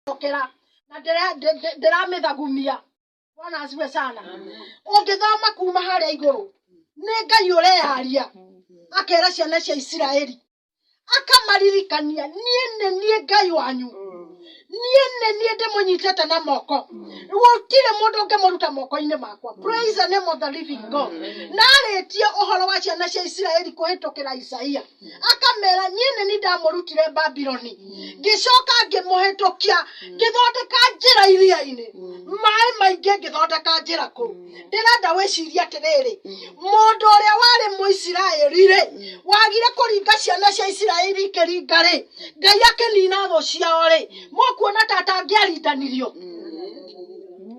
ndokera na ndĩramĩthagumia bwana asiwe sana ũngĩthoma kuma harĩa igũrũ nĩ ngai ũreharia akera ciana cia isiraeli akamaririkania niĩ nĩ niĩ ngai wanyu niĩ nĩ niĩ ndĩmũnyitĩte na moko gũtirĩ mũndũ ũngĩmũruta moko-inĩ makwa praise the name of the living god na arĩtie ũhoro wa ciana cia isiraeli kũhĩtũkĩra isaia akamera niĩ nĩ niĩ ndamũrutire babiloni ngĩcoka ngĩmũhĩtũkia ngĩthondeka njĩra iria-inĩ maĩ maingĩ ngĩthondeka njĩra kũu ndĩrenda wĩcirie atĩrĩrĩ mũndũ ũrĩa warĩ mũisiraeli-rĩ wagire kũringa ciana cia isiraeli ikĩringa-rĩ ngai akĩnina thũ ciao-rĩ mũkuona ta atangĩarindanirio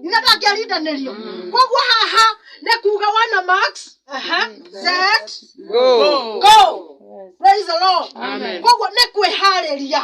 ithe ndangĩarindanĩrio koguo haha nĩ kuga wana max aha, set Go. go praise the lord Amen. koguo nĩ kwĩharĩria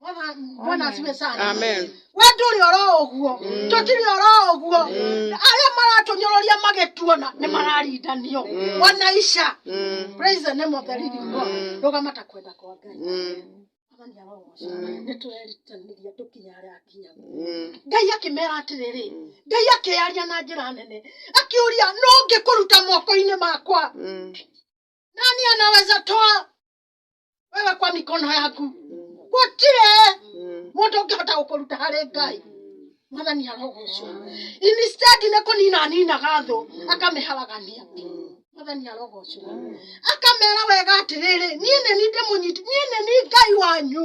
Bwana- bwana asiwe sana Amen. we ndũrĩ oro ũguo tũtirĩ oro ũguo arĩa maratũnyororia magĩtuona nĩ mararindanio ona ica Mm. praise the name of the living god rũgama ta kwenda kwa ngai Mm. Mwathani arogooca. nĩ tũrerutanĩria tũkinya harĩa akinya Mm. ngai akĩmera atĩrĩrĩ ngai akĩyaria na njĩra nene akĩũria no ngĩkũruta moko-inĩ makwa Mm. nani anaweza toa wewe kwa mikono yaku gutire mundu ũngĩhota gũkũruta harĩ ngai mwathani arogocwo instead nĩ kũnina aninaga thũ akamĩharagania mwathani arogocwo akamera wega atĩrĩrĩ niĩ nĩ ni ndĩmũnyiti niĩ nĩ ni ngai wanyu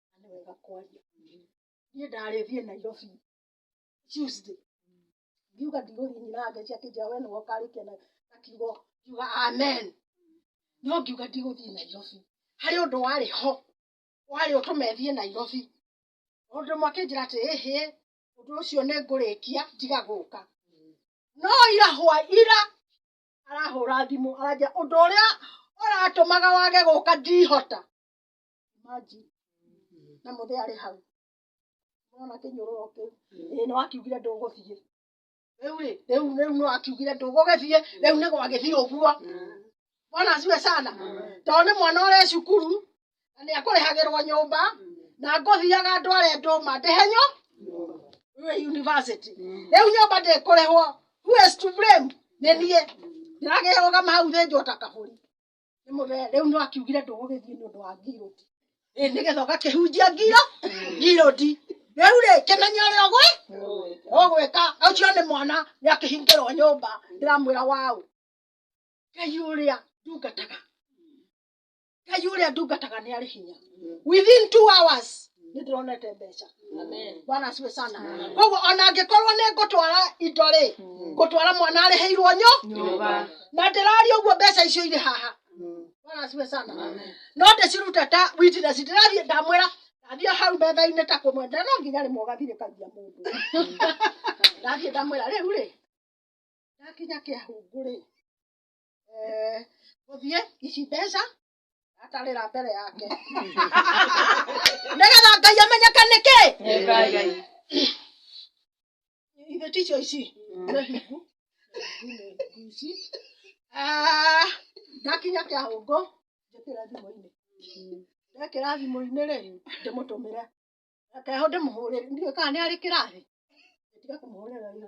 na nĩ wega kwaria ũguo. Niĩ ndarĩ thiĩ Nairobi Tuesday, ngiuga ndigũthiĩ nyina angeithia akĩnjĩra we nĩwe ũkarĩkia na na kiugo, ngiuga amen. No ngiuga ndigũthiĩ Nairobi, harĩ ũndũ warĩ ho, warĩ ũtũme thiĩ Nairobi. Mũndũ ũmwe akĩnjĩra atĩ ĩhĩ, ũndũ ũcio nĩ ngũrĩkia tiga gũka. No ira hwa ira, arahũra thimũ aranjĩra ũndũ ũrĩa ũratũmaga wage gũka ndihota. imagine na mũthĩ arĩ hau mwana kĩnyũrũro kĩu ĩĩ nĩ wakiugire ndũgũthiĩ rĩu rĩ rĩu rĩu nĩ wakiugire ndũgũgĩthiĩ rĩu nĩ gwagĩthiĩ ũguo mwana aciwe sana tondũ nĩ mwana ũrĩ cukuru na nĩ akũrĩhagĩrwo nyũmba na ngũthiaga ndware ndũma ndĩhe nyo we university rĩu nyũmba ndĩkũrĩhwo who is to blame nĩ niĩ ndĩragĩrũgama hau thĩnjwo ta kabũri Nĩmũge- rĩu no akiugire ndũgũgĩthiĩ nĩ ũndũ wa ngirũti Ĩ, nĩgetha ũgakĩhunjia ngiro ngirũti rĩu rĩ kĩmenye ũrĩa ũgwĩ ũgwĩka ũcio nĩ mwana nĩ akĩhingĩrwo nyũmba ndĩramwĩra waũ ngai ũrĩa ndungataga ngai ũrĩa ndungataga nĩ arĩ hinya within two hours nĩ ndĩronete mbeca bwana asiwe sana koguo ona angĩkorwo nĩ ngũtwara indo rĩ ngũtwara mwana arĩhĩirwo nyo na ndĩraria ũguo mbeca icio irĩ haha bwana asiwe sana no ndĩciruta ta witness ndĩrathiĩ ndamwĩra ndathiĩ hau metha-inĩ ta kũmwendera no nginya rĩmwe ũgathirĩkagia mũndũ ndathiĩ ndamwĩra rĩu rĩ ndakinya kĩahungu rĩ eh, gũthiĩ ici mbeca atarĩra mbere yake nĩgetha ngai amenyeke nĩkĩ ithe ticio ici Ah, ndakinya kĩa hũngũ njĩkĩra thimũ-inĩ ndekĩra thimũ-inĩ rĩ ndĩmũtũmĩre keho ndĩmũhũrĩre ndiũĩ kana nĩ arĩ kĩrathi tiga kũmũhũrĩra rĩu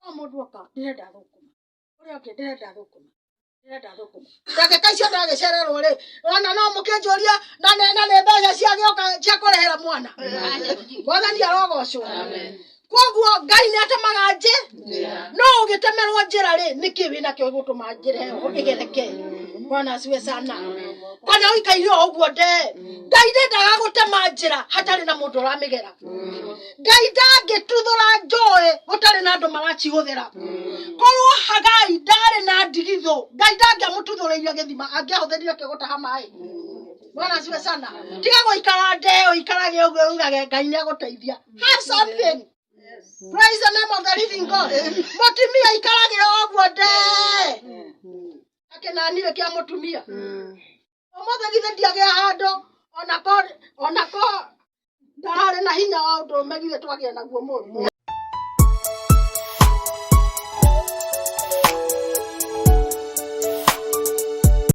no mũndũ oka ndĩrenda thũkũma ũrĩa ũngĩ ndĩrenda thũkũma ndĩrenda thũkũma ndagĩka icio ndagĩcererwo rĩ ona no mũkĩnjũria na nĩ na nĩ mbeca ciagĩoka cia kũrĩhĩra mwana mwathani arogocwo koguo ngai nĩ atemaga njĩ no ũgĩtemerwo njĩra rĩ nĩkĩ wĩ nakĩo gĩgũtũma njĩra ĩyo ĩgereke mwana aciwe sana kana ũikaire o ũguo nde ngai ndendaga gũtema njĩra hatarĩ na mũndũ ũramĩgera ngai ndangĩtuthũra njũĩ gũtarĩ na andũ maracihũthĩra korwo hagai ndarĩ na ndigithũ ngai ndangĩamũtuthũrĩire gĩthima angĩahũthĩrire kĩ gũtaha maĩ bwana asiwe sana tiga gũikara ndeo ikarage ũguo ugage ngai nĩ agũteithia have something praise the name of the living god mũtumia ikarage ũguo nde akenanire kĩa mũtumia ũmũthĩ githĩ ndiagĩa handũ ona ko ona ko ndararĩ na hinya wa ũndũ ũme githĩ twagĩa naguo mũndũ